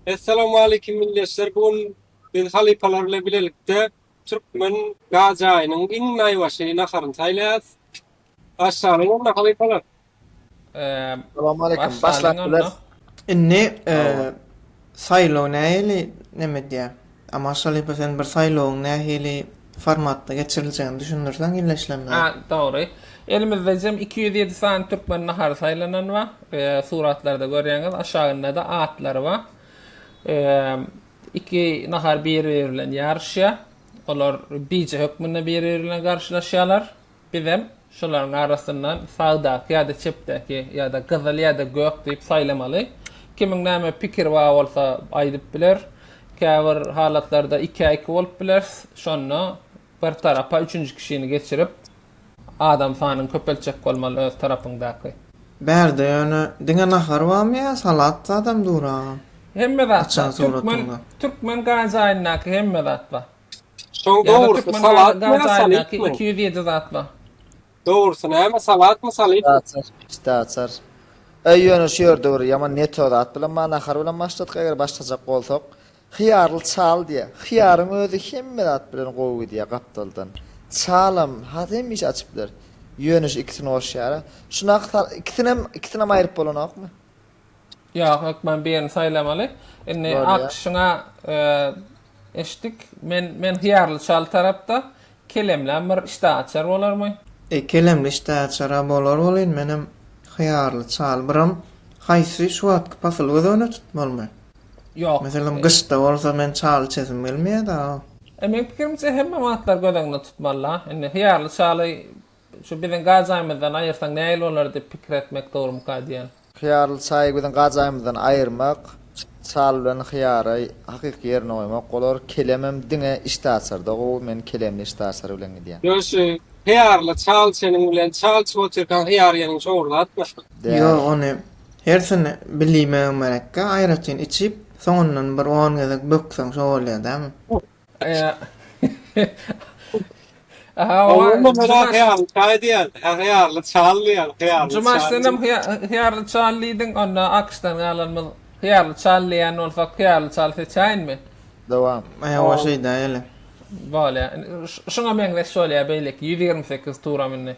Essalamualeýkum milletçiler bu gün biz halypalar bilen bilelikde türkmen gaz jaýynyň iň naýbaşy naharyny saýlaýas başlalyň onda halypalar. Essalamualeýkum başlap bileris. Indi saýlaw nähili neme edýär. A Marşalyýewa sen bir saýlawyň nähili formatda geçiriljegini düşündirseň ýylla işlemde. A dogry. Elimizde jem iki ýüz ýedi sany türkmen nahary saýlanan bar. Suratlarda görýäňiz aşagyndada atlary bar. Iki nahar biri biri bilen ýaryşýar. Olar bije hökmünde biri biri bilen garşylaşýarlar. Bizem şolaryň arasyndan sagdaky ýa-da çepdäki ýa-da gyzyl ýa-da gök diýip saýlamaly. Kimiň näme pikiri bar bolsa aýdyp biler. Käbir halatlarda ikä-iki bolup bileris. Şonda bir tarapa üçünji kişini geçirip, adam sanyny köpeltjek bolmaly öz tarapyňdaky. Bärde ýöne diňe nahar barmy ýa salat zadam dur agam? Hemme zat bar. Türkmen türkmen gaýzaýyndaky hemme zat bar. Şoň dogrusy salatmy ýa salypmy? Iki ýüz ýedi zat bar. Dogrusy näme salatmy salypmy? Pişdi açar. Öý ýöne şu ýerde bir ýaman ne to zat bilen bar nahar bilen başladyk eger başlajak bolsak hyýarly çal diýýä. Hyýaryň özi hemme zat bilen gowy gidýä gapdaldan. Çalam has hemişe açyp biler. Ýöne şu ikisini goşýara. Şunak sal ikisinem ikisinem aýryp bolanokmy? Ýok, hökman birini saýlamaly. Indi akyşyňa eşitdik. Men men hyýarly çal tarapda. Kelemläm bir işdäaçar bolarmy? E, kelemli işdäaçar-a bolar welin, menem hyýarly çal. Biram haýsy şu wagtky pasyl göz öňüne tutmalymy? Ýok. Meselem, gyşda bolsa men çal içesim gelmeýär-dä. E, meň pikirimçe hemme wagtlary göz öňüne tutmaly-la. Indi hyýarly çaly Şu biziň gajaýymyzdan aýyrsaň nähili bolar diýip pikir etmek dogrumyka diýen. Hyýarly çaýy biziň gajaýymyzdan aýyrmak, çal bilen hyýary hakyky ýerine goýmak bolar. Kelemem diňe işdäaçarda gowy, men kelemli işdäaçary bilen gidýän. Ýöne şu hyýarly çal çeniň bilen çal içip otyrkaň hyýar ýeňiň şowurlatmy? Ýok ony hersini bilýmegem gerekkä aýratyn içip soňundan bir on gezek bökseň şo bolýa dämi? Oglum merak ýaly çaý diýen, hyýarly çal diýen, hyýarly çal. Jumaş senem hyýarly çal diýdiň, onda AQŞdan galanymyz hyýarly çal diýen bolsak, hyýarly çal seçäýinmi? Dowam. Hawa şeýdäýeli. Bolýar. Şuňa meňzeş bolýar beýleki ýüz ýigrimi sekiz turam indi.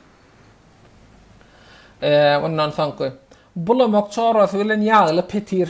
Ondan soňky. Bulamak çorasy bilen ýagly petir.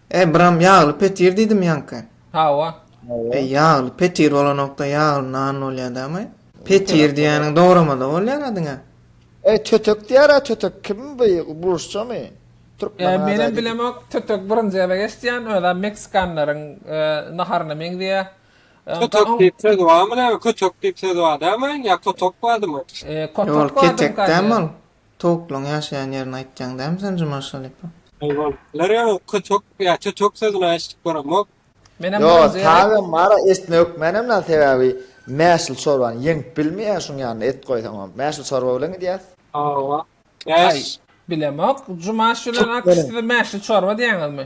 Eý, buram ýagly petir diýdim ýaňky. Hawa. Eý, ýagly petir bolanokda ýagly nan bolýar dämi? Petir diýýäniň dogramada bolýar-a diňe. Eý, tötek diýýär-ä tötek kim bu, rusçamy? Türkmeniň ajaýyp. Menem bilemok, tötek birinji gezek eşitýän, özem meksikanlaryň naharyna meňzeýä. Tötek diýip söz barmy näme, kötek diýip söz bar dämi, ýa kotok bardymy? Ýol ketek dämi ol? Towuklaň ýaşaýan ýerini aýtýaň dämi sen Juman Şalypa. Haýwanlar ýa kötek ýa tötek sözüne eşidip göremok. Menem Ýo birinji gezek. tazem bara esne hökmänem dal sebäbi mäşil çorbany ýeňip bilmeýän şuň ýanyna et goýsaňam mäşil çorba bilen gidýäs. Hawa. Aý. Bilemok. Jumaş bilen Akyş size mäşli çorba diýýäňizmi?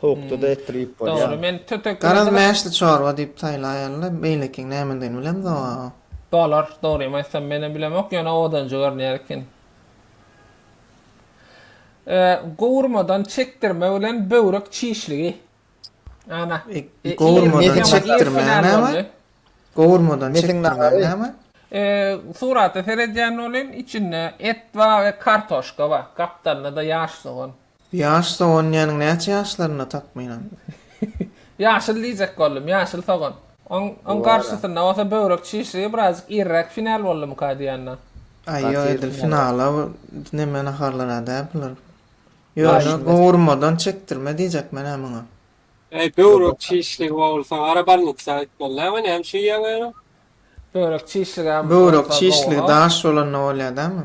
Sowukda-da etdirip bolýar. Dogry, men tötek bilen. Garaz mäşli çorba diýip saýlaýarlar. Beýlekiniň nämedigini bilemzog-a. Bolar, dogrymy aýtsam menem bilemok, ýöne owadanjy görünýär ekeni. Gowurmadan çekdirme bilen böwrek çişligi. Ana. Gowurmadan çekdirme näme? Gowurmadan çekdirme näme? Surata seredýän welin, içinde et bar we kartoşka bar. Gapdalynda-da ýaş sogan. Ýaş sogan iýeniň näçe ýaşlarynda takmynan? Ýaşyl diýjek boldum, ýaşyl sogan. Oň garşysynda bolsa böwrek çişligi birazjyk irräk final boldumyka diýanda. Aý ýok edil finala neme naharlara däl bular. Ýöne gowurmadan çekdirme diýjek menä muňa. Eý böwrek çişligi bowlsa gara bolnitsa gitmeli däl we näme üçin iýýäň ony? Böwrek çişligem bolsa gowuha. Böwrek çişligi daş bolanda bolýar dämi?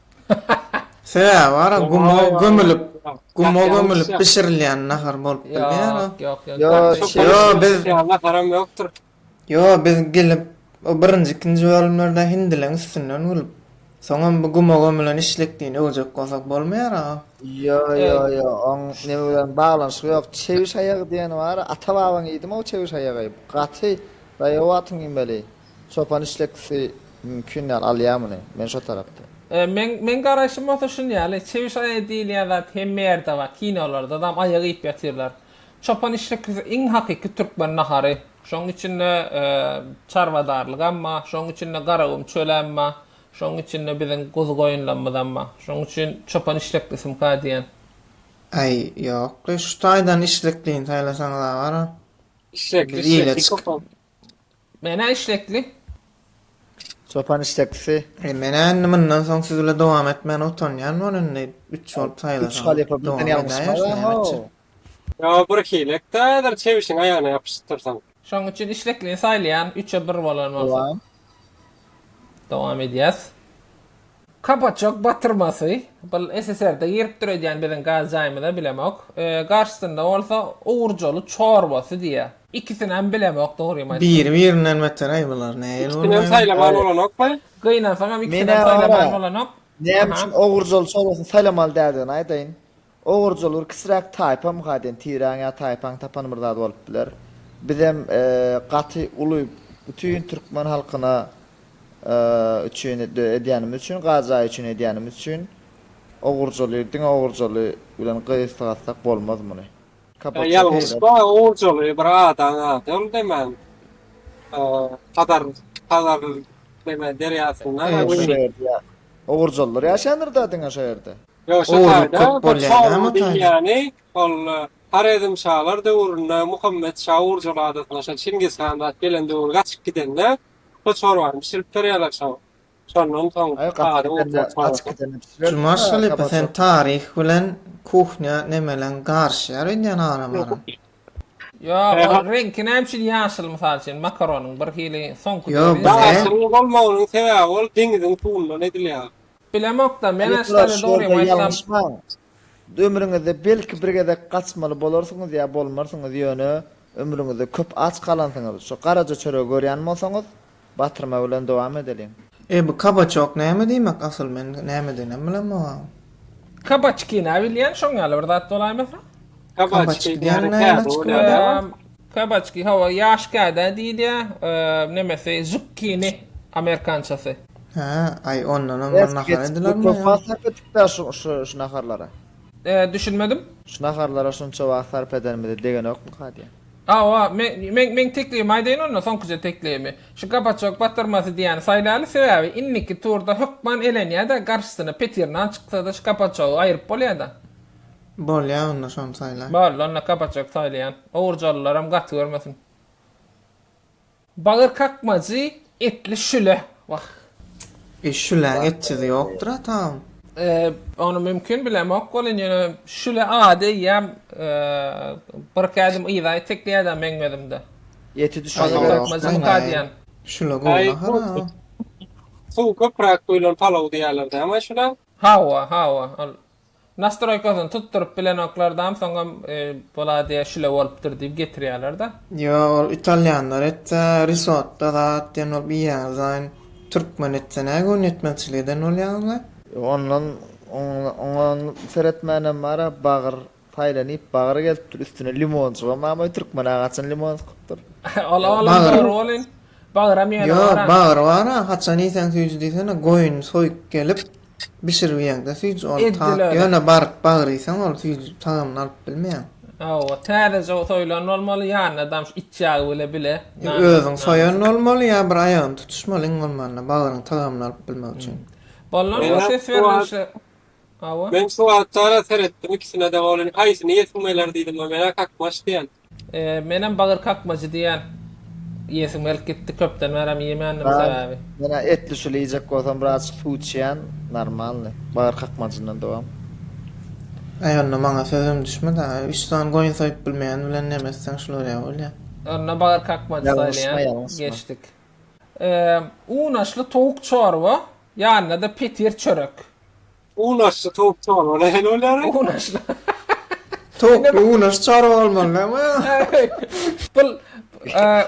Sebäbi bar o guma gömülip, guma gömülip bişirilýän nahar bolup bilýär o. Ýok, ýok, ýok. Ýa, Ýo, biz Ýa, haram ýokdur. Ýo, biz gelip, o birinji, ikinji bölümlerde hindileň üstünden gülüp, soňam bu guma gömülen işlekdigini öwjek bolsak bolmaýar-a. Ýo, ýo, ýo, oň neme bilen baglanyşygy ýok. Çewiş aýagy diýen bar, ata-babaň iýdimi o çewiş aýagy? Gaty, daýaw wagtyň iýmeli. Çopan işlekisi mümkin dal alýa muny men şo tarapda. Meň meň garaýşym bolsa şun ýaly, çewiş aýagy diýilýän zat hemme ýerde bar, kinolarda zam aýak iýip ýatyrlar. Çopan işlekisi iň hakyky türkmen nahary. Şoň içinde çarwadarlygam bar, şoň içinde garagum çölem bar, şoň içinde biziň guzy-goýunlarymyzam bar. Şoň üçin çopan işleklisimka diýen. Aý, ýok-le, şu taýdan işleklini saýlasaňyz-a gara. Işlekli, işlekli çopan. Menä işlekli. Çopan işleklisi. Eý menä indi mundan soň siz bile dowam etmäne utanýan bol indi üç bolup saýlasaňyz dowam edäýer nämeçi. Ýa bir hilek da häzir çebişiň aýagyna ýapyşdyrsaň. Şoň üçin işleklini saýlaýan üçe bir bolan bolsa. Dowam edýäs. Kabaçok batyrmasy, bul SSR-de giripdir öýdýän biziň gaz jaýymyza bilemok. Garşysynda bolsa Ogurjoly çorbasy diýýär. Ikisinem bilemok dogrymy aýtsam. Biri birinden betereý bular nähili bolmaly. Ikisinem saýlamaly bolanokmy? Gynansaňam ikisinem saýlamaly bolanok. Näme üçin Ogurjoly çorbasyn saýlamaly däldigini aýdaýyn. Ogurjyl bir kiçiräk taýpa mukaden tireň ýa taýpaň tapan bir zady bolup biler. Bizem gaty uly bütin türkmen halkyna üçin edýänimiz üçin gar jaýy üçin edýänimiz üçin ogurjyly diňe ogurjyly bilen gysgatsak bolmaz muny. Ýalňyş bar ogurjyly bir adaň ady ol demen hazar hazar neme derýasynda. Ogurjylylar ýaşaýandyr da diňe şo ýerde. Ýok, şu Ogurlyk taýda köp bir bolýar da Çorluň Mataýda. diýýäni ol Horezm şalar döwründe Muhammet şa Urjul adasyna şol Çingiz han zat gelen döwür gaçyp gidende şo çorbany bişirip berýärler şoňa. Şondan soň Aý gaçyp ady gidende, Urjul gaçyp çorbasy. gidende bişirersiň Jumaş ha, halypa sen gabaty. taryh bilen kuhnýa nemeleň garyşýar öýdýän aralara. Ýok, ol Ehe. reňki näme üçin ýaşyl mysal üçin makaronyň birhili soňky Ýok, döwri ýaşyl. bize- Ýaşyl bolmagynyň sebäbi ol deňiziň suwundan edilýär. Bilemokda, men Aştane dogrym aýtsam. Ömrüňizde belki bir gezek gaçmaly bolarsyňyz ýa bolmarsyňyz ýöne ömrüňizde köp aç galansyňyz şu garaja çöregi görýän bolsaňyz batyrma bilen dowam edeliň. Eý bu kabaçok näme diýmek asyl men nämediginem bilemogam. Kabaçkina bilýän şoň ýaly bir zat bolaýmasa. Kabaçki diýýän täze bolýar däl. Kabaçki, hawa, ýaş kädä diýilýä, nemesi, zukkini, amerikançasy. Hä, aý, ondanam bir nahar edilermi ýa? Wagt sarp etdik-dä şu, şu, şu naharlara. Düşünmedim? Şu naharlara şunça wagt sarp edenimizi degenokmyka diýýän. Hawa, men, men, meň teklibimi aýdaýyn onda, soňkuja teklibimi. Şu kabaçok batyrmasy diýýäni saýlaýaly, sebäbi indiki turda hökman elenýä-de, garşysyna petirnan çyksa-da şu kabaçogy aýryp bolýa-da. Bolýa onda şony saýlaý. Boldy onda kapaçok saýlaýan. Owurjalylaram gaty görmesin. Bagyr kakmajy etli şüle. Wah. E şüläň etjisi ýokdur a taým. Ony mümkin bilemok welin ýöne şüle ady eýýäm birki ädim yza itekleýäda meň gözümde. Eti düşmese berk. Şüle gowy nahara. Suwy köpräk guýlan palaw diýýäler dämi şüle? Hawa hawa ol Nastroýkasyny tutduryp bilenoklardam soňam boladiýa şile bolupdyr diýip getirýälerda. Ýo ol italýanlar etse risotto zat diýen bolup iýýäňizaýyn türkmen etse nä göni ýetmezçilik eden bolýaňyzlaý. Ondan oňa seretmänem bara bagyr saýlanyp bagyr gelipdir üstüne limonjygam abaý türkmena haçan limon sykypdyr. Ol olam dogry welin bagyram ýöne bar. Ýo bagyr bara haçan iýseň süýji diýsene goýun soýup gelip Bişirip iýeňde süýji ol tat ýöne baryp bagyr iýseň ol süýji tagamyny alyp bilmeýäň. Hawa, täzeje soýlan bolmaly, ýanynadam şu it ýagy bile bile. Ýa özüň soýan bolmaly, ýa bir aýagyny tutuşmaly iň bolmanda bagyryň tagamyny alyp bilmek üçin. Bolna şo ses berlişi. Hawa. Men şu wagtara seretdim ikisinede bolany haýsyny iýesim geler diýdim we men-ä kakmaş diýen. Menem bagyr kakmajy diýýän. Iýesim gelip gitdi, köpden bärem iýemändim sebäbi. Men etli şuly iýjek bolsam biraz suw içýän, normalny. Bagyr kakmajyndan dowam. Äý onda maňa sözüm düşmedi a, üç sany goýun soýup bilmeýän bilen neme etseň şul bolýa bolýa. Onda bagyr kakmajy saýlaýan, geçdik. Unaşly towuk çorba, ýanyna-da petir çörek. Unaşly towuk çorbala hel bolýar. Unaşly. Towukly unaş çorba bolmaly dämi? Bul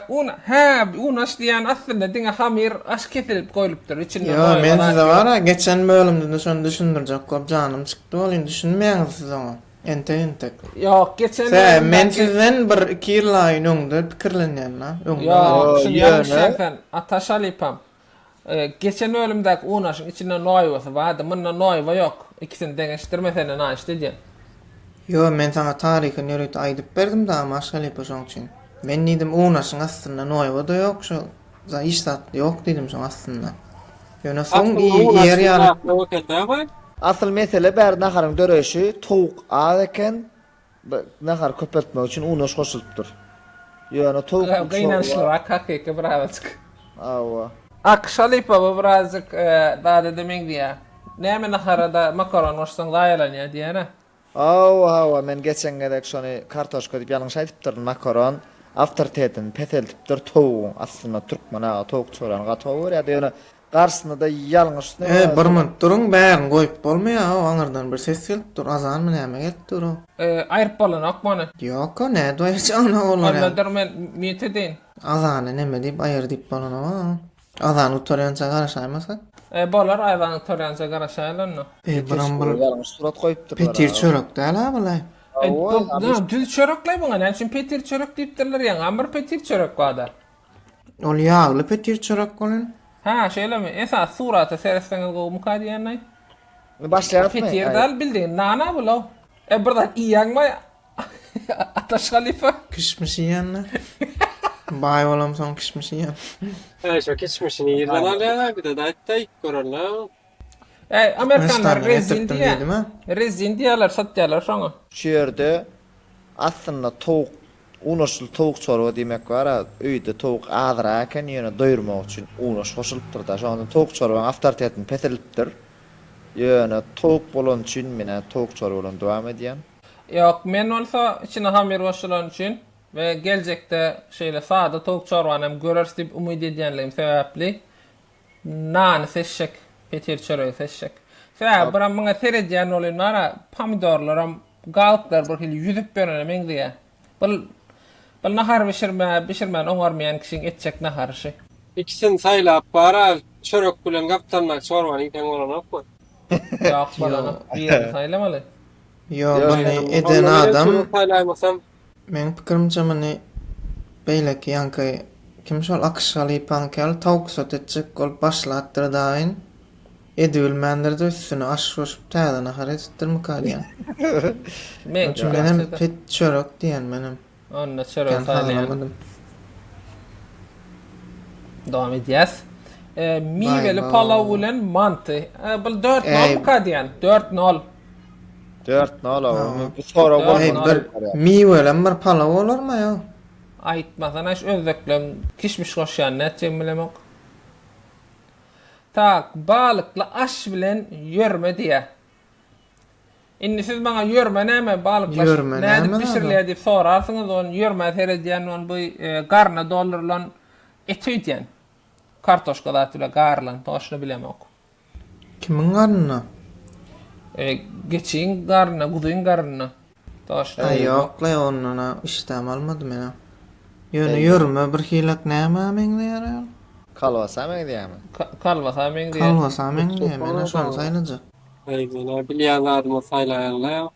un hä unaş diýýän aslynda diňe hamyr aş kesilip goýlupdyr içinde maý bar. Ýo men size wara geçen bölümde şony düşündirjek bolup janym çykdy welin düşünmäňiz siz oňa entek entek. Ýok geçen bölümde. Hä men sizden bir iki ýyllaýyn öňde pikirlenýän la öňde. Ýok düşünýän ýöne. Ataş halypam. Geçen bölümdäki unaşyň içinde noýbasy bardy, munda noýba ýok, ikisini deňeşdirmesene naşt edýän. Ýo, men saňa taryhy nüriti aýdyp berdim dagmy Aş halypa şoň üçin. Men diýdim unaşyň astynda noýba-da ýok şo za hiç zat ýok diýdim şoň astynda. Ýöne soň i iýer ýaly. Asyl mesele bäri naharyň döreýşi towuk az eken Nahary köpeltmek üçin unaş goşulypdyr. Ýöne towuk Ýa gynançlyrak hakyky birazajyk. Hawa. Ak şalypa bu birazjyk dadada meňzeýä. Näme naharada makaron goşsaň zaýalanýa diýýän-ä. Hawa hawa men geçen gezek şony kartoşka diýip ýalňyş aýdypdyryn makaron awtoritetini peseltipdir towugyň aslynda türkmen aga towuk çöreni gaty gowy görýärdi ýöne Garsynyda ýalňyş näme ýaly. Eý bir minut duruň bärini goýup bolmaýaow aňyrdan bir ses gelip dur azanmy näme gelip durow. Aýryp bolanokmy ony. Ýoka nädip aýyrjagyna olar ýaly. Onnadur men nýet edeýin. Azany neme diýip aýyr diýip bolanow. Azan gutarýança garaşaýmasy. E bolar azan gutarýança garaşaýyl onda. Eý buram bir ýalňyş surat goýupdyrlar. Petir çörek däl a bulaý. Haoý. Düz çörek laý buňa näme üçin petir çörek diýipdirler ýaňam bir petir çörek barda. Ol ýagly petir çörek welin. Hä, şeýlemi? Esasy surata seretseňiz gowumyka diýenay? Indi başlaýarysmy? Petir däl, bildigiň nana bul-ow. E, bir zat iýýäňmi, Ataş halypa? Kişmiş iýýän-dä. Baý bolamsoň kişmiş iýýän. Äý, şo kişmişini ýerden alýaň-a, bir zat aýt-da, iýip göreliň-a. Äý, amerikanlar rezin diýä. Rezin diýýärler, satýarlar şoňa. Şu ýerde aslynda towuk, unaşly towuk çorba diýmek bar-a, öýde towuk azrak eken, ýöne doýurmak üçin unaş goşulypdyr-da, şoňa onda towuk çorbaň awtoritetini peseldipdir. Ýöne towuk bolany üçin men häzir towuk çorba bilen dowam edýän. Ýok, men bolsa içine hamyr goşulany üçin we geljekde şeýle sada towuk çorbany hem göreris diýip umyt edýänligim sebäpli Nany seçjek, petir çöregi seçjek. Sebäbi bir muňa seredýän bolýan bar-a, pomidorlaram, galyklary bir hili ýüzüp ýörene meňzeýär. Bul, bul nahar bişirme, bişirmän oňarmaýan kişiň etjek nahary şü. Ikisini saýlap bar-a, çörek bilen gapdalyndaky çorbany iýseň bolanokmy? Ýok, bolanok. Birini saýlamaly. Ýok, ony eden adam. Meň pikirimçe muny beýleki ýaňky kim şol akyşga lypaňky ýaly tawksat etjek bolup başlapdyr daýyn. Edibilmändirde üstüne aş goşup täze nahar edipdirmika diýýän. Meň üçin menem pit çörek diýen menem. Onda çörek saýlaýan. Dowam edýäs. Miweli palaw bilen manty. Bul 4-0 ka diýýän. 4-0. Dört nala Ha. ony bu sorag Dört bolmasa nala. bir bolýar. Miwelem bir palaw bolarmy ýa? Aýtmasana şu özbekler kişmiş goşýan nätjegimi bilemok. Tak, balykly aş bilen ýörme diýýä. Indi siz maňa ýörme näme, balykly aş Ýörme nädip näme näme? bişirilýär diýip sorarsyňyz, ony ýörmä seredýän men bu e, garna doldurylan eti öýdýän. Kartoşka zat bilen garylan, toşny bilemok. Kimiň garnyna? E, geçiň garnyna, guzyň garnyna. Daşda Aý, ýok-laý, ondan-a işdäm almady men-ä. Ýöne ýörme birhilak nämä meňzeýär ýaly? Kolbasa meňzeýärmi? Ka, kolbasa meňzeýär. Kolbasa meňzeýär, men-ä şony saýlajak. Aý, men-ä bilýän zadymy saýlaýan-laý.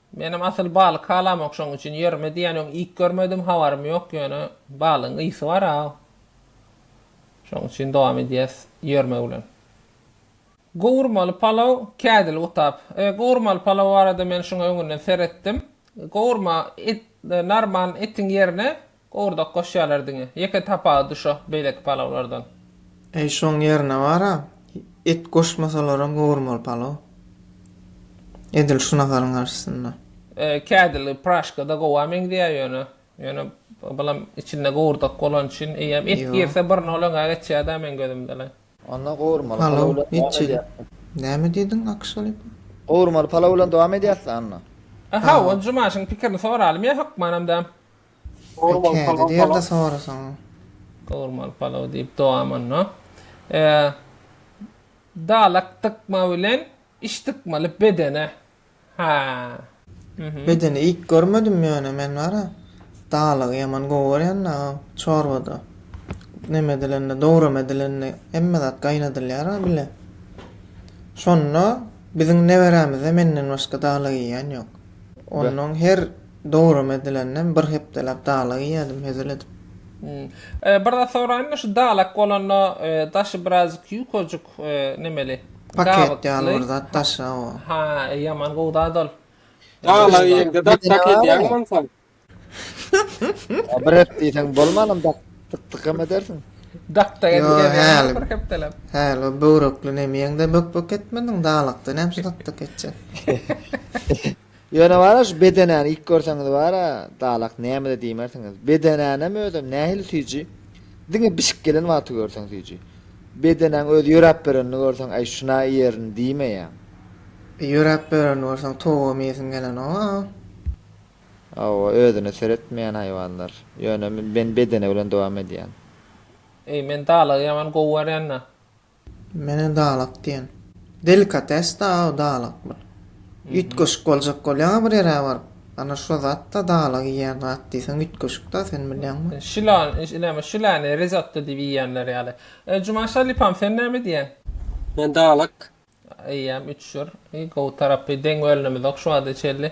Menem asyl balyk halamok şoň üçin ýerime diýýän öň iyk görmedim habarym ýok ýöne balygyň ysy bar a şoň üçin dowam edýäs ýermek bilen. Gowurmaly palaw kädil gutap. E gowurmaly palaw barada men şuňa öňünden seretdim. Gowurma et normal etiň ýerine Gowurdak goşýarlar diňe. Ýeke tapawudy şo beýleki palawlardan. Eý şoň ýerine bara et goşmasalaram gowurmaly palaw. Edil şu naharyň garşysynda. Kädili praşkada gowa meňzeýär ýöne. Ýöne bulam içinde gowurdak bolany üçin eýýäm et girse bir nol öňe geçýärda meň gözümde. Onda gowurmaly palaw bilen dowam edýäs. Näme diýdiň Akşelip? Gowurmaly palaw bilen dowam edýäs-le Anna. Hawa, Jumaşyň pikirini soralymyýa hökmanam däm. Salam salam salam. Kädi derde sorasaň. Gowurmaly palaw diýip dowam onda. Dalak dykma bilen iş dykmaly bedene ha. Bedeni ilk görmedim ýöne men bara dalagy ýaman gowy görýän da çorbada neme edilende dowrama edilende hemme zat gaýnadylýar a bile şonda biziň neberämizde menden başga dalag iýýän ýok onnoň her Dowram edilenden bir hepdeläp dalak iýýädim hezil edip. Hmm. Bir zat soraýynmy şu dalak bolanda daşy birazjyk ýukajyk nemeli. Paket ýaly bir zat daşy hawa. Ha ýaman gowy zat ol. Dalak iýeňde daş paket ýaly onsoň. Bir hepde iýseň bolmanam dak dak edersiň. Dak dak edersiň bir hepdeläp. Häli o böwrekli nemi iýeňde bök bök etmediň dalakda näme üçin dak dak etjek. Ýöne bar-a şu bedenäni ilk görseňiz bar-a, dalak näme-de diýmersiňiz. Bedenänem özem nähili süýji. Diňe bişip gelen wagty görseň süýji. Bedenäň özi ýöräp berenini görseň, Äý, şun-a iýerin diýmeýäň. Bir ýöräp berenini görseň, towugam iýesiň gelenok-a. Hawa, özüne seretmeýän haýwanlar. Ýöne men bedene bilen dowam edýän. Eý, men dalagy ýaman gowy görýän-dä. Menä dalak diýen. Delikates da-aw dalak bul. Üýtgeşik boljak bolýaň-a bir ýere baryp. Ana şo zat-da dalak iýýän zat diýseň üýtgeşik-dä sen bilýäňmi? Şilany, näme, şilany rizotto diýip iýýänler ýaly. Juman şalypam, sen näme diýýäň? Men dalak. Eýýäm, üç jür. Gowy tarapy deň bölünimizok şu wagta çenli.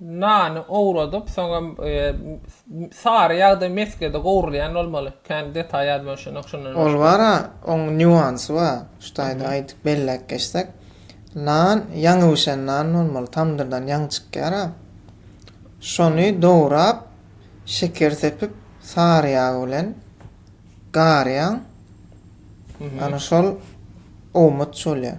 Nany owradyp, soňam sary ýagda mesgede gowrulýan bolmaly. Kän detaý ýadymda şonda şondan başga. Ol bar-a, oň nýuansy bar. Şu taýda aýdyp belläp geçsek, nan ýaňy bişen nan bolmaly, tamdyrdan ýaňy çykýar-a. Şony dograp, şeker sepip, sary ýag bilen garýaň. Ana şol owmaç bolýar.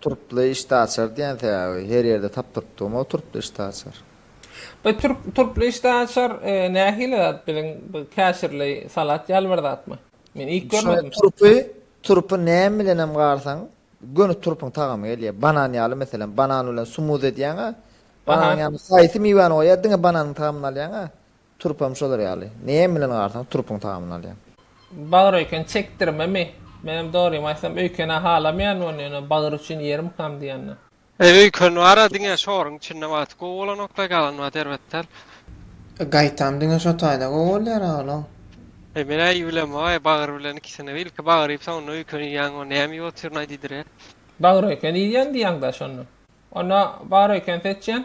Turply işdäaçar diýen säwä her ýerde tapdyrypdygym-ow turply işdäaçar. Be turp turply işdäaçar nähili zat biziň bu käşirli salat ýaly bir zatmy? Men iýip görmedim. Turpy turpy näme bilenem garsaň göni turpyň tagamy gelýär. Banan ýaly meselem banan bilen sumuz edýäňä bananyň ýanyna haýsy miwäni goýýa diňe bananyň tagamyny alýaňa Turp hem şolar ýaly. Näme bilen garsaň turpuň tamyny alýaň. Bagyr öýken çekdirmemi? Menem dogrymy aýtsam öýkena halamayaryn ony ýöne bagyr üçin ýerim kam diýanda. Eý öýken bara diňe şoryň içinde wagty gowy bolanokda galan wagty erbet däl. Gaýtam diňe şo taýda gowy bolýar aglo. Eý men aý iýibilem aý bagyr bilen ikisini ilki bagyr iýip soňundan öýkeni iýýäň o näme iýip otyryn aý diýdirýär. Bagyr öýken iýýän diýýäňda şonda. Onda bagyr öýken seçýän.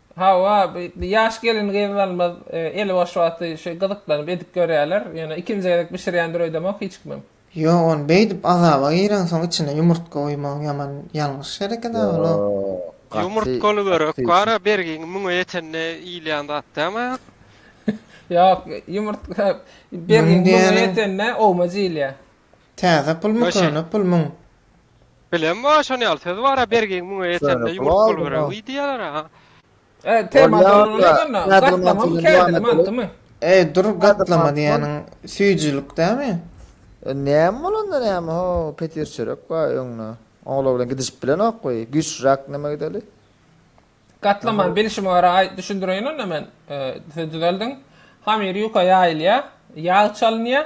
Hawa, ýaş gelin-gyzlarymyz eli boş wagty şeý gyzyklanyp edip görýärler. Ýöne ikinji gezek bişirýändir öýdemok hiç kimem. Ýok ony beýdip azaba gireňsoň içine ýumurtga guýmagyň ýaman ýalňyş hereket agyl o. Ýumurtgaly börek bara bergiň müňe ýetende iýilýän zat dämi aýak? Ýok ýumurtga bergiň müňe ýetende owmaj iýilýär. Täze pulmy Ýo şeý. köne pulmyň. Bilem o şon ýaly söz bara bergiň müňe ýetende Şöyle ýumruk pul bolup aldım. diýýärler a. E tema Olýa doluny olýa. näme onda? Nädogry Gatlama my mantygam kärde devam edelim. mantymy? Eý dur Nädogry gatlama mantyk ol. diýeniň süýjülik dämi? E näme bolanda näme ho petir çörek bar öňde. Oňlar bilen gidişip bilenok goý. Güçräk neme gideli. Gatlamany bilşime görä aý düşündireýin onda men. E düzeldiň. Hamyr ýuka ýaýylýar. Ýag çalynýar.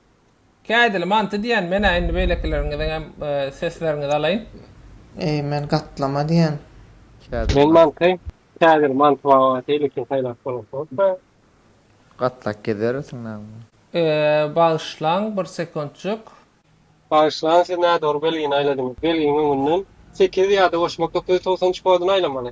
Kädili manty diýen menä indi beýlekileriňiziňem sesleriňizi alaýyn. Eý men gatlama diýen. Kädili Men mant. manty kädili manty baba şeýle kim saýlap bolan bolsa. Gatlak gezerisiň name. Bagyşlaň bir sekuntjyk. Bagyşlaň siz nädogry belgini aýladyňyz. Belgiň öňünden sekiz ýa-da goşmak dokuz ýüz togsan üç kodyny aýlamaly.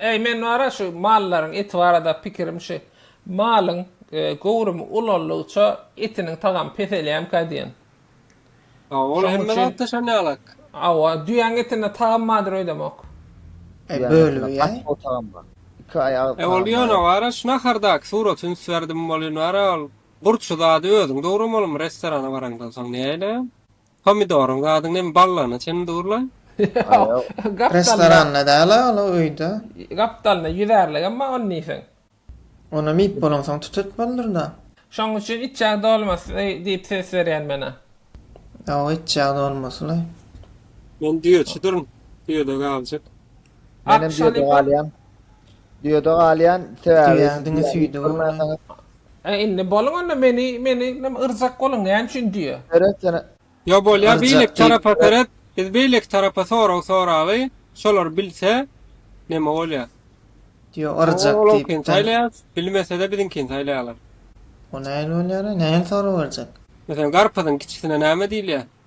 Eý, men bar-a şu mallaryň eti barada pikirim şu, malyň göwrümi ulaldygyça etiniň tagamy peselýärmikä diýen. A, ol hemme zatda şon ýalak. Hawa, düýäň etinde tagam bardyr öýdemok. E, bölübi ýaý. Iki aý agyz tagamy. E, ol ýöne bar-a şu nahardaky suraty üns berdim, welin bar-a ol gurçy zady özüň dogramolmy restorana baraňdan soň näleýär? Pomidoryň zady neme ballaryna çenli durlaý. Ýok, restoranda däl-a ol öýde. Gapdalynda ýüzärligem bar ony diýseň. Onam iýip bolansoň tut etmelidir-dä. Şoň üçin içjag dolmasy diýip ses berýän men-ä. Hawa, içjag dolmasylaý. Men düýeçidirin, düýede galjak. Menem düýede galýan. Düýede galýan, sebäbi. Düýäň diňe süýdi bolmaly. Ä indi boluň onda meni meni nime yrjak boluň näme üçin diýýä. Seret sen Ýa bolýa beýleki tarapa seret biz beýleki tarapa sorag soraly şolar bilse neme bolýa. Diýo yrjak diýip de. Saýlaýas bilmesede biziňkini saýlaýalar. O nähili bolýara nähili sorag berjek. Meselem garpyzyň kiçisine näme diýilýä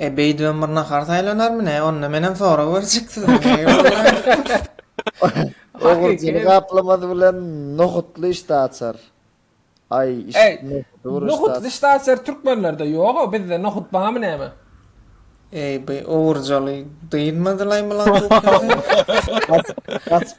E beýdibem bir nahar saýlanarmy ne? Onda menem sorag berjek size. Ogurjyny gaplamasy bilen nohutly işdä açar. Aý, nohutly işdä açar türkmenlerde ýog-a, bizde nohut barmy näme? Eý, bu ogurjaly dynmady-laý mlankukasy. Gaçyp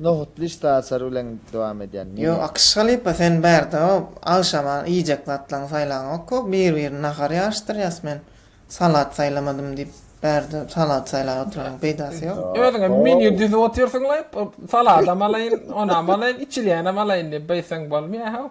Nohutly işdä açar bilen dowam edýän Ýo Akyş halypa sen bärde agşama iýjek zatlaň saýlaňokko bir birini nahar ýaryşdyrýas men salat saýlamadym diýip bärde salat saýlap oturanyň peýdasy ýok. Özüňe menýu düzüp otyrsyň laý saladam alaýyn onam alaýyn içilýänem alaýyn diýip beýtseň bolmaýahow.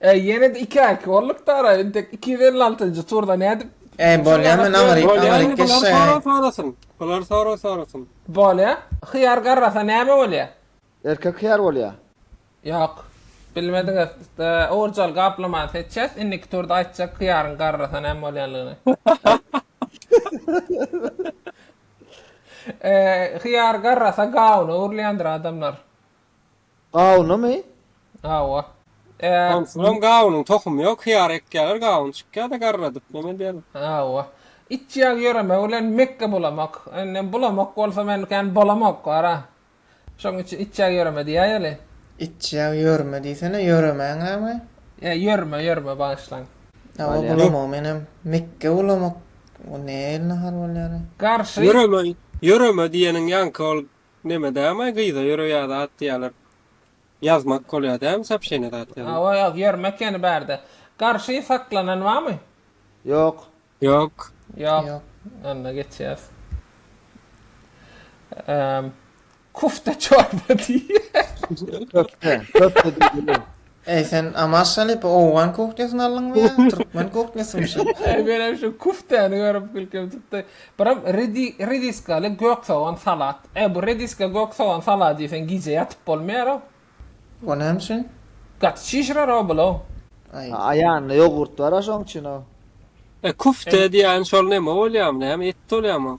Äý ýene-de iki erki orlukda ara intek iki ýüz elli altynjy turda nädip Äý bolýa men aňyryk aňyryk geçseň. Bular sorag sorasyn. Bolýa. Hyýar garrasa näme bolýa? Erkek hyýar bolýa. Ýok. Bilmediňiz. Owurjaly gaplamany seçýäs. Indiki turda aýtjak hyýaryň garrasa näme bolýanlygyny. Hyýar garrasa gawuna öwrülýändir adamlar. Gawunymy? Hawa. Är. Onsoňam gawunyň tohumy ýok, hyýar ekýärler, gawun çykýar-da garradyp, näme edýärler? Hawa. Itjag ýöremek bilen Mekge bulamak. Indi bulamak bolsa men kän bolamok wara. Şoň üçin itjag ýöreme diýäýeli. Itjag ýörme diýsene, ýöremäňämi? Ýa ýörme, ýörme, bagyşlaň. Hawa, Bolýar. bulamak menem. Mekge bulamak, bu nähili nahar bolýar-aý? Garşy. Ýöreme, ýöreme diýeniň ýaňky ol Neme dämay gyza ýöre ýaza at diýýäler. Ýazmak bolýa dämi sopşeniýa zat ýazmak. Hawa ýaz ýermek ýene bärde. Garşy saklanan barmy? Ýok. Ýok. Ýok. Onda geçýäs. Kufta çorba diýýär. Köfte. Köfte diýilýär. Eý sen Amaz Şalypa owgan kuhnýasyny aldyňmy ýa türkmen kuhnýasymy şa? Menem şu küftäni görüp gülkim tutdy. Biram redi rediskaly gök sogan salat. Eý bu rediska gök sogan salady iýseň gije ýatyp bolmaýar-ow. O näme üçin? Gaty çişirer-ow bul-ow. Aý. Aýanda ýogurt bar-a şoň üçin-ow. E küfte diýýäni şol neme bolýamy näme et bolýamy oň.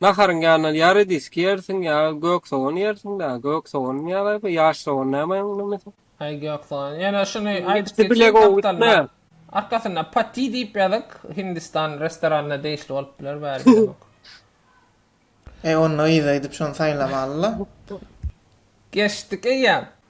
Naharyň ýanyna ýary diski ýersiň ýa gök sogan ýersiň daa gök sogan ýa gaýby ýaş sogan näme onuň nimmesi. Haý gök sogan ýene şuny aýdyp geçiň gapdalda arkasynda pati diýip ýazyk hindistan restoranyna degişli bolup biler bäri bilemok. Eý onda yza gidip şony saýlamalyla. Geçdik eýýäm.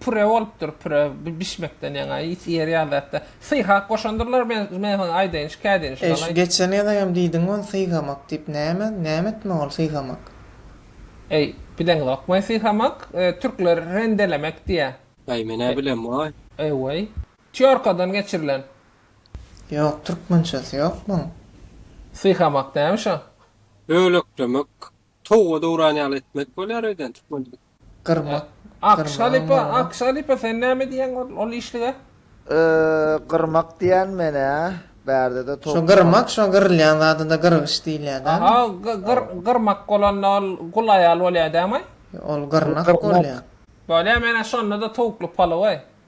Püre bolupdyr püre bişmekden ýaňa is ýer ýaly zatda syhak goşandyrlar men men saňa aýdaýyn şikaýat edin Eý şu geçen ýazaýam diýdiň ol syhamak diýip näme näme etmek ol syhamak. Eý bileňzokmaý syhamak türkler rendelemek diýýä. Aý men nä bilem waý. Eý waý. Týorkadan geçirilen. Ýok türkmençesi ýok muň. Syhamak näme şo. Böleklemek towga dowran ýaly etmek bolýar öýdän türkmen dilinde. Gyrmak, Ak şalypa, ak şalypa sen näme diýýäň ol işlige? Gyrmak diýýän men-ä, bärdede towuk. Şo gyrmak, şo gyrylýan zada-da gyrgyç diýilýär dämi? Aha, gyrmak bolanda ol gul aýal bolýar dämi? Ol gyrnak bolýar. Bolýar, men-ä şonda-da towukly palaw-aý.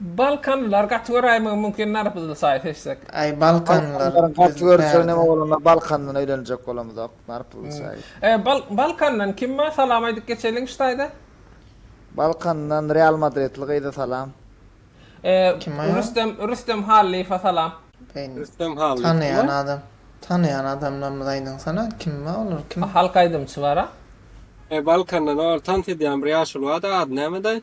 Balkanlylar gaty göräýmegi mümkin narpyzly çaýy seçsek. Aý balkanlylar Balkanlylar gaty biz görse bärde. neme bolanda balkandan öýlenjek bolamyzok narpyzly çaýy. E bal balkandan kim bar salam aýdyp geçeliň ştaýda. Balkandan real madridli gyza salam. E Kim aýa? rüstem rüstem hallyýewa salam. Beýni Rüstem Hallyýew kim tanaýan aý? adam tanaýan adamlarymyzy aýdyňsana kim bar olar kim? Halk aýdymçy bara. E balkandan ol tans edýän bir ýaşuly bardy ady nämedi aý?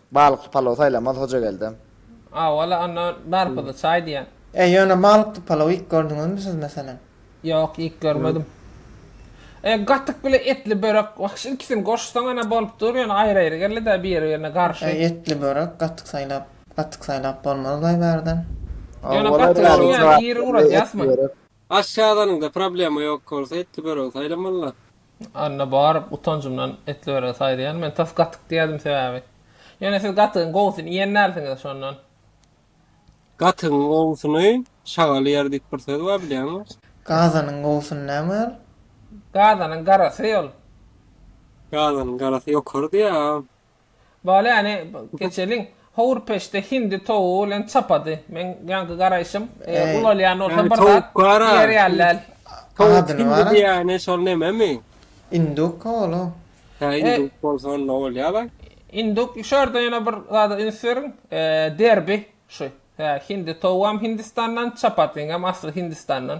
Balykly palaw saýlamaz Hojageldem. A wala onda narpyzly çaý diýýän. E ýöne balykly palaw iýip gördüňizmi siz meselem? Ýok iýip görmedim. E gatyk bile etli börek wahşy ikisini goşsaň ana bolup dur ýöne aýry aýry gelidä biri birine garşy. E etli börek gatyk saýlap gatyk saýlap bolmaz baý bärden. Ýöne gatyk şuň ýaly iri uradýasmy? Aşgazanyňda problema ýok bolsa etli börek saýlamalla. Anna baryp utanjymdan etli börek saýlaýan men tas gatyk diýerdim sebäbi ýöne siz gatygyň gowusyny iýen dälsiňiz şondan. Gatygyň gowusyny şagal iýer diýip bir söz bar bilýäňmi? Gazanyň gowusyny näme iýer? Gazanyň garasy ol. Gazanyň garasy ýokarydy ýa. Bale äni geçeliň. Howur peçde hindi towugy bilen çapady. Meň ýaňky garaýşym. Ulalýan bolsa bir zat diýer ýaly däl. Towuk hindi diýýäni şol nememi? Induk-a ol o. Hä induk bolsa onda bolýa-laý. Induk şu ýerde ýene bir zada üns beriň. Derbi şu. Hä hindi towugam hindistandan, çapatiniňem asly hindistandan.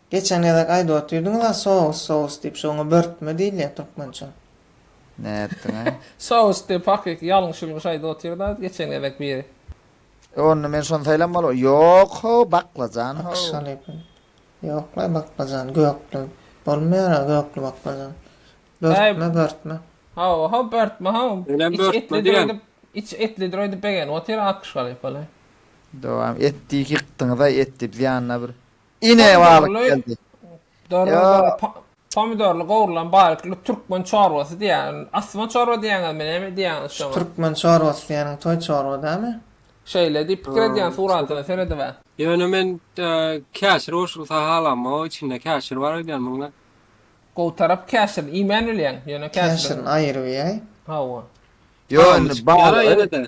Geçen gezek aýdyp otyrdyňyz a sous sous diýip şu oňa börtme diýilýä türkmençe. Nätdiňä? Sous diýip hakyky ýalňyş ýulňyş aýdyp otyrda geçen gezek biri. E onda men şony saýlanmaly Ýok how baklajan how. Akyş alypyn. Ýoklaý baklajan gökli bolmaýar a gökli baklajan. Börtme börtme. How how börtme how. Içi etlidir öýdüp içi etlidir öýdüp begenip otyr akyş galypaly. Dowam et diýip ýykdyňyz a et diýip ýanyna bir Ine balyk geldi. Darada pomidorly gowrulan balykly türkmen çorbasy diýýän. Asma çorba diýýäňizmi, näme diýýäňiz şoňa? Türkmen çorbasy diýýäniň toý çorba dälmi? Şeýle diýip pikir edýän suratyna seredibe. Ýöne men käşir goşup sahalam o içinde käşir bar öýdýän muňa. Gowy tarap käşir iýmän bilýäň ýöne käşir. Käşirini aýyryp iýäý. Hawa. Ýöne balygy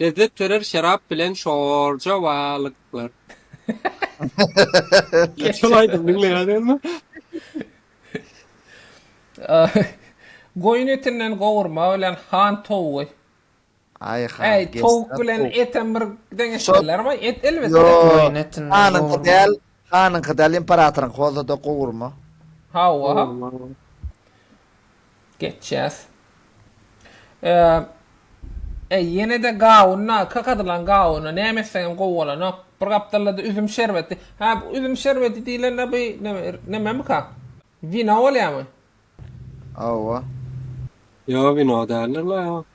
Lezzet törer şerap bilen şorja balyklar. Geç şol aýdymy diňleýäňizmi? Goýun etinden gowurma bilen han towugy. Aý han. Äý towuk bilen etem bir deňeşdirlermi? Et elbetde. Goýun etinden gowurma. Hanyňky däl, hanyňky däl imperatoryňky bolsada gowurma. Hawa. Geçýäs. Eee, eý, ýene-de gawuna, kakadylan gawuna näme etseňem gowy bolanok. Bir gapdalda-da üzüm şerbeti. Hä, bu üzüm şerbeti diýlende bu nämemika? Wino bolýamy? Hawa. Ýok, wino däldir-le.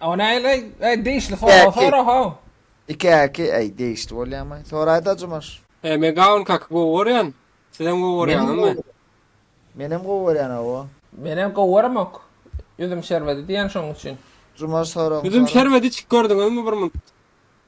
Ony aýl, aý, aý, degişli sorag Däki. sora how. Iki äki, äý, degişli bolýamy? Soraýda Jumaş. He men gawun kaky gowy gorýan. Sizem gowy Menem gorýaňyzmy? gowy. Menem gowy görýän hawa. Menem gowy göremok. Üzüm şerbedi diýen şoň üçin. Jumaş soragyňy Üzüm sora. şerbedi içip gördüňizmi bir munt?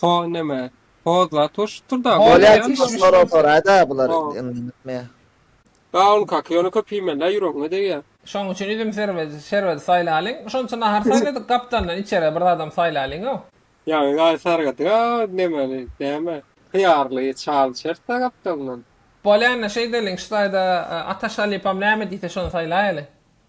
Ho neme? Ho zat urşupdyr da. Bolýa Timuş sorag soraýda bular öňlendirme. Gawn kaka ýöne köp iýmelä ýüregiňe degýä. Şoň üçin üzüm şerbedi saýlalyň. Şonça nahar saýladyk gapdalyndan içere bir zadam saýlalyňow. Ýaňy gaý sargadyga nemeli näme hyýarly çal içerisda gapdalyndan. Bolýanda şeýdeliň şu taýda Ataş Halypam näme diýse şony saýlaýaly.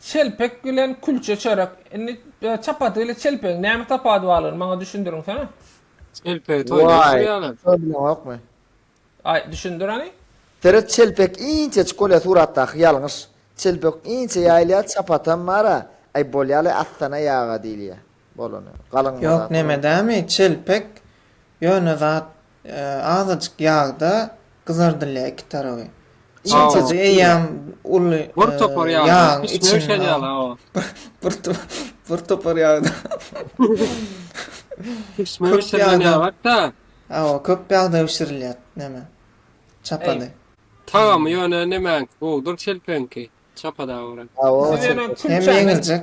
Çelpek bilen külçe çörek. Indi çapat bilen çelpegiň näme tapady barlygyny maňa düşündiriňsene. Çelpegi toýda bişirýärler. Wayy toý bilenokmy? Aý düşündir hany. Seret çelpek inçejik bolýa suratdaky ýalňyş çelpek inçe ýaýylýa çapatam bara aý bolýaly astana ýaga diýilýä. bolany. Galyň Ýok nemedämi çelpek ýöne zat azajyk ýagda gyzardylýa iki taraby. Çelpegi eýýäm uly ýagyň içinde bir topar ýagda Pişme bişirilen ýagakda. Hawa köp ýagda bişirilýä neme çapada. Tagamy ýöne nemäňki gowudyr çelpegiňki çapada görä. Hem ýeňiljek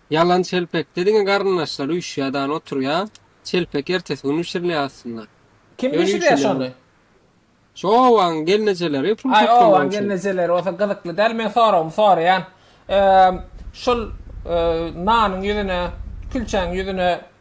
Ýalan çelpekde diňe garyndaşlary üşýär dany oturýa çelpek ertesi gün bişirilýä aslynda. Kim bişirýä şony. Şu obaň gelnejeleri pul toplamak üçin. Aý obaň gelnejeleri bolsa gyzykly däl men soragymy soraýan. Şul nanyň ýüzüne külçäň ýüzüne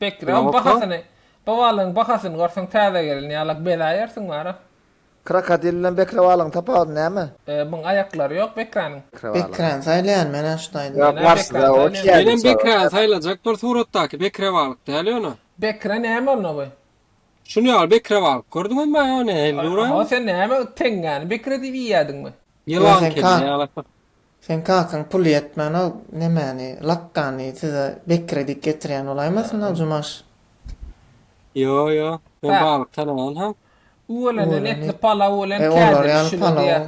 Bekrew bahasyny bu balygyň bahasyny görseň täze gelin ýalak bezäýersiň bara. Krokodil bilen bekre balygyň tapawudy näme? Ee muň aýaklary ýok bekräniň. Bekräni saýlaýan menä şu taýda. Ýok barsyda o iki ýaly. Menem bekräni saýlajak bir suratdaky bekre balyk däl ýöne. Bekre näme onda bu. Şuny ýaly bekre balyk gördüňiz mi ýa ne hellura. Aho sen näme teňňäni bekre diýip iýýädiňmi. Ýylan kedi ýalak bir. Seň kakaň puly ýetmänok nemäni lakkany size Bekire diýip getirýän bolaýmasynda Jumaş. Ýo ýo men Bäh. balyk tanaman ha. Üwelenen Üweleni. etli palaw bilen E olar kädili ýaly şile palaw. diýer.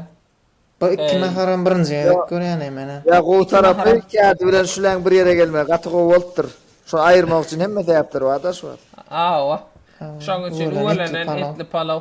Bu iki Eý. naharam birinji gezek görýän eý menä. Ýa gowy Iki tarapy naharam. kädi bilen şüleň bir ýere gelmegi gaty gowy bolupdyr. Şony aýyrmak üçin hemme sebäpler bar-da şu wagt. Hawa. Şoň üçin Üweleni etli üwelenen palaw. etli palaw.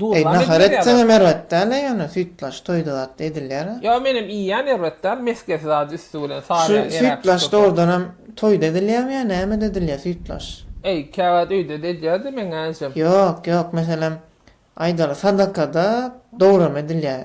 Duz Eý, nahar etseňem erbet däl-le ýöne, süýtlaç toýda zat edilýär-ä. Ýa menem iýýän erbet däl, mesgesi zady üsti bilen Şu salýan eräp şu süýtlaç köpe. dogrudanam toýda edilýärmi ýa nämede edilýär süýtlaç? Eý, käwagt öýde-de edýär-de meň äjem. Ýok, ýok, meselem, aýdaly sadakada dogrum edilýär.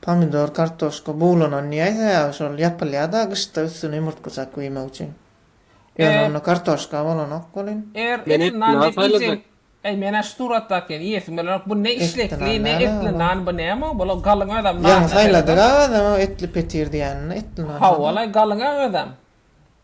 Pomidor, kartoşka buglanan diýäý sebäbi şol ýapylýada gyşda üstüne ýumurtgajak guýmak üçin. Ýöne onda kartoşka bolanok welin. Men etli nan saýlajak. Äý menä şu suratdaky ýaly iýesim gelenok bu ne işlekli ne etli nan bu näme bu bula galyň özem nan. Ýaňy saýladyga özem o etli petir diýänini etli nan. Hawwalaý galyňa özem.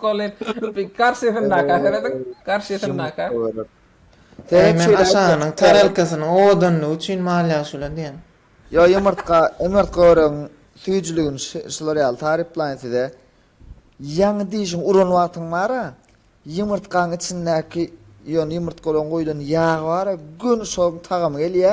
Kolin, karşysyndaky ahyryň, karşysyndaky. Eý, men aşagynyň tarelkasynyň owadanlygy üçin mal ýagyşy bilen diýen. Ýo, ýumurtga, ýumurtga öregiň süýjüligini şular ýaly taryplaýyn size. Ýaňy dişiňi uran wagtyň bar-a, ýumurtgaň içindäki, ýöne ýumurtgalaň guýlan ýagy bar-a, göni şoň tagamy gelýä.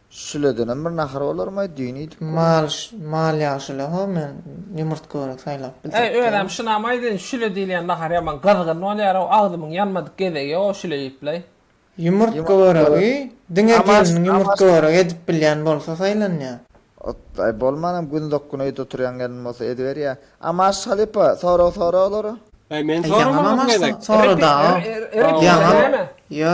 Şüledenem bir nahar bolarmaý, düýn iýdik gurny. Mal, mal ýagşyl ho, men ýumurtga görek saýlap biljek däl. Äý, özem şunamaý sen, şüle diýilýän nahar ýaman gyzgyn bolýar-ow, agzymyň ýanmadyk gezegi o şüle iýipläý. Ýumurtga göregi diňe gelniň ýumurtga göregi edip bilýän bolsa saýlanýar. Otlaý, bolmanam gündok gün öýde oturýan gelin bolsa ediberýär. A Maşyt halypa, sorag sora olary. Äý, men soramanam gezek. Ýaňam amaşsaň, sora-da-a. Ýaňam, ýa,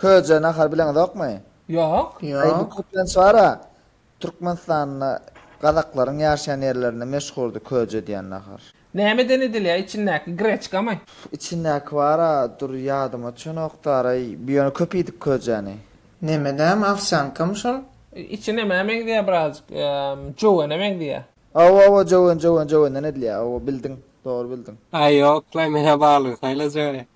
Köje nahary bileňizokmy? Ýok. Aý bu köplenç bara Türkmenistanda gazaklaryň ýaşaýan ýerlerinde meşhurdy köje diýen nahar. Nämeden edilýär içindäki greçkamy? Içindäki bara dur ýadyma düşenokdaraý bi ýöne köp iýdik köjäni. Nemedämi owsýankamy şol? Içi nämä meňzeýär birazjyk jöwene meňzeýär. Aw aw jöwen jöwen jövenden edilýär aw bildiň dogry bildiň. Aý ýoklaý menä balygy saýlajaga.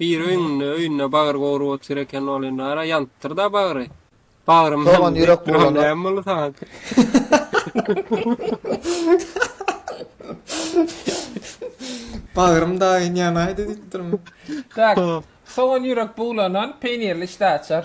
Biri öýňünde, öýünde bagyr gowrup otyr eken ol indi ara ýanypdyr-da bagry. Bagrym Soňam ýürek buwlana. Näme boldy saňa? Bagrym daýyn ýanaýdy diýipdirmi? Soňam ýürek buwlanan peýnirli işdäaçar.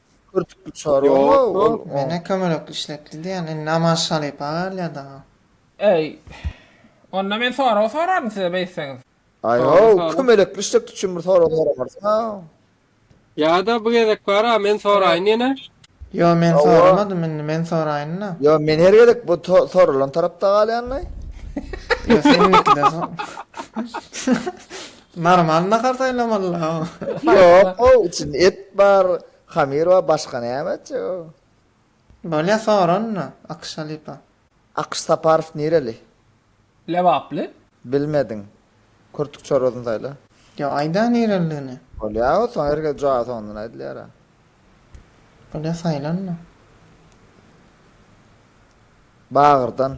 Kürtük bir çar bolma ol. Mene kömelekli işletdi diýen indi Aman Şalypa galýa daga. Eý. Onda men sorag soraryn size beýtseňiz. Aýow kömelekli işletdi üçin bir sorag soramarsyňa. Ýada bu gezek bara men soraýyn ýene. Ýo men soramadym indi men soraýynda. Ýo men her gezek bu soralan tarapda galýanlaý. Ýo sen indikide sor. Normal nahar saýlamalylaw. Ýok ow içinde et bar, hamir bar başga näme etjek ow. Bolýa sora onda Akyş halypa. Akyş Saparow nireli? Lebaply. Bilmediň. Kürtük çorbasyny saýla. Ýa aýda nirelidigini. Bolýa ow soň her ger jogaby soňundan aýdylýar a. Bolýa saýla onda. Bagyrdan.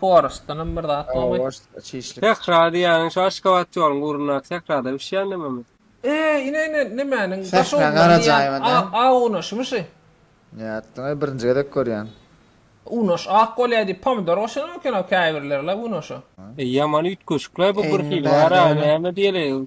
Horostdanam bir zat bolmaý. Sähra diýýäniň şu Aşgabat ýoluň ugrundaky sährada bişýän nämemi? Eý, ine, ine, nemäniň daş odunyň diýýän A unaşymy şi? Nätdiňoý, birinji gezek görýän. Unaş ak bolýa diýip pomidor goşanam eken-ow käbirler-le unaşa. Eý ýaman üýtgeşikleý bu birhili bary-a näme diýeli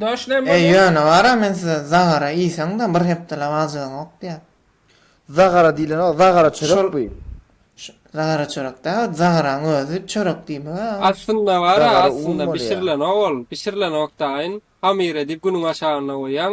E, ýöne bar-a, men size zagara iýseň-de, bir hepdeläp ajygyňok diýýän. Zagara diýlenok, zagara çörek bu. Zagara çörek däl, zagaranyň özi çörek diýmek-ä. Aslynda bar-a, aslynda bişirilenok ol. Bişirilenok-daýyn. Hamyr edip günüň aşagynda goýýaň.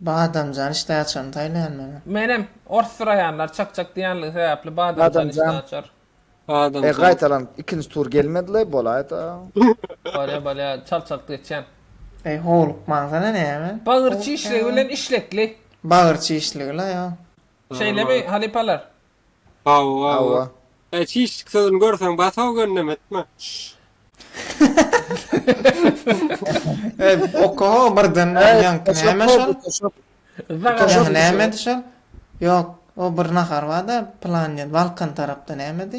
Badamjan işdä açaryny saýlaýan maňa. Menem, ors syraýanlar çak çak diýýänligi sebäpli badamjan işdä açar. E gaýtalanyp ikinji tur gelmedile bolaýda. Bolýa bolýa çalt çalt geçýän. Eý howlukmaňsana näme. Bagyr çişligi bilen işlekli. Bagyr çişligi la ýa. Şeýlemi halypalar. Hawa Hawa. Eý çişlik sözüni görseň basa ögünleme etme. Eý okaho birden Eý ýaňky toşak näme şol? boldy toşak. Ýaňky Toşak näme edi şol? Ýok o bir nahar barda plan diýen Balkan tarapda nämedi?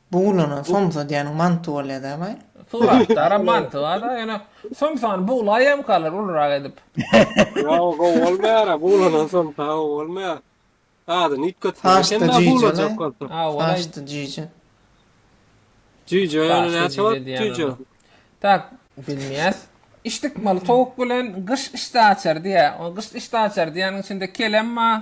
Buglanan somsa diýeniň manty bolýada baý. Suratdaram manty barda ýöne somsany buglaýamkalar ulurak edip. Ýok gowy bolmaýara buglanan somsa gowy bolmaýar. Adyny üýtgetseň eken da buglajak bolsa. Saçdy jüýje. Jüýje ýöne näçe bolup jüýje. Tak bilmeýäs. Işdikmaly towuk bilen gyş işdäaçary diýýär. Gyş işdäaçary diýýäniň içinde kelem bar.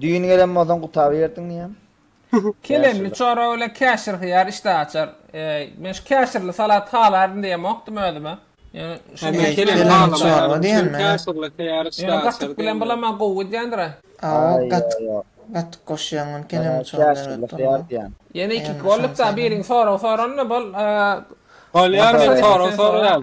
Düýn gelen bolsaň gutaryberdiň diýýän. Kelemli çorba bilen käşir hyýar işdäh açar. Men şu käşirli salat halaryn diýemokdym özüme. Ýöne şuny Men kelem halamok diýen men. Käşirli hyýar işdäh açar. Ýöne gatyk bilen bulamma gowy gidýändir-ä. Hawa gatyk gatyk goşýaň ony kelemli çorba berip bolma. Ýene ikiki bolduk-da biriň sorag soranyna bol. Bolýar men sorag soraýan.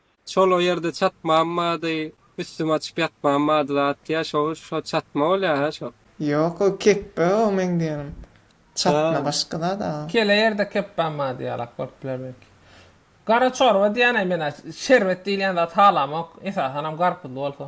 Şol o ýerde çatmam bady üstüm açyp ýatmam bady zat ýa şo şo çatma bolýa hä şo. Ýok o kepbe o meň diýenim çatma başga zat a. Kele ýerde kepbem bady ýalak bolup biler belki. Gara çorba diýýänä mena şerbet diýilýän zat halamok esasanam garpyzly bolsa.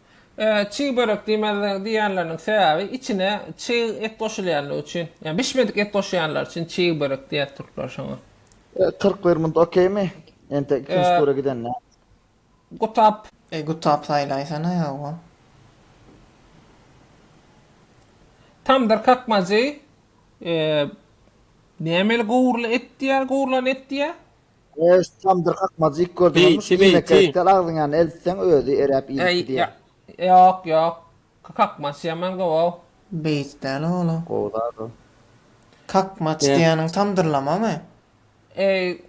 Çig börek diýmez diýýänleriniň sebäbi içine çig et goşulýandygy üçin. Ýa bişmedik et goşýanlar üçin çig börek diýýär türkler şoňa. Kyrk bir munt okeými? Entek ikinji tura gidende. Gutap. Eý gutap saýlaýsana ýa-o. Tamdyr kakmajy näme eli gowruly et diýýär, gowrulan et diýýär. Goş tam dyrkak mazik gördüm Beýti, olmuş iýmek beýti. gerek däl agzyň ýanyna eltseň özi eräp iýmekli Eý, diýýär. ýa, ýok, ýok. Kakmaç ýaman gowaw. Beýik däl ola. Gowy zat o. Kakmaç Däl. diýeniň tamdyrlamamy? Eý,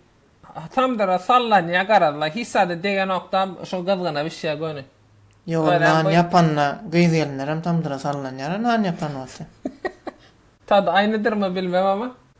tamdyra sallanýa garaz-la, hiç zada degenok-da, şo gyzgyna bişýä göni. Ýow, Özem nan bu- ýapanda gyz gelinlerem tamdyra sallanýar-a nan ýapan bolsa. Tady aýnydyrmy bilmem ama.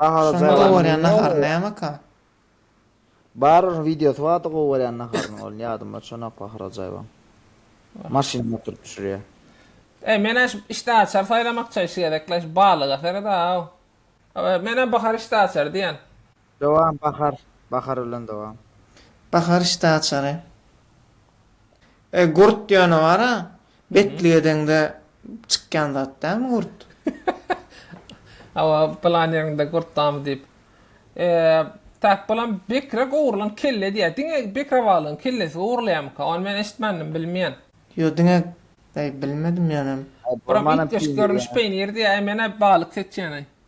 Nahara Şonda gowy borýan nahar nämeka? Bar wideosy bardy gowy borýan naharynyň ol ýadymda çanak Baharajaýewaň. Maşynda oturyp pişirýä. Eý men-ä şu işdäaçar saýlamakça şu gezek-le şu balyga sered-aw. Menä Bahar işdäaçar diýen. Dowam Bahar Bahar bilen dowam. Bahar işte açary. E gurt ýöne bara betlige deňde çykýan zat dälmi gurt? Hawa plan ýeriňde gurt damy diýip. E tak bolam bekrek ogurlan kelle diýýä diňe bekrabalyň kellesi ogurlaýamyka ony men eşitmändim bilmeýän. Ýo diňe eý bilmedim ýöne. Buram it döşük görnüş peýnir diýýä eý menä balyk seçýän eý.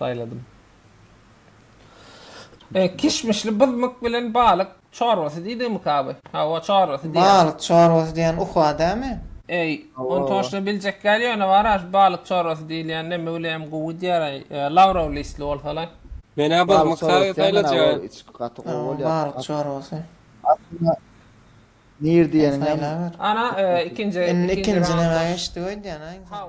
saýladym. E, kişmişli byzmyk bilen balyk çorbasy diýdigimika bu? Hawa, çorbasy diýýär. Balyk çorbasy diýen uka dämi? Eý, ony toşla biljek däl, ýöne bar-a, şu balyk çorbasy diýilýän neme bilenem gowy diýer-aý, lawrow listli bolsa-laý. Men-ä byzmyk saýlajak. Hawa, balyk çorbasy. Aslynda, nir diýeniňem. Ana, ikinji, ikinji raunda. Indi ikinji nämä geçdik öýdýän-a insan?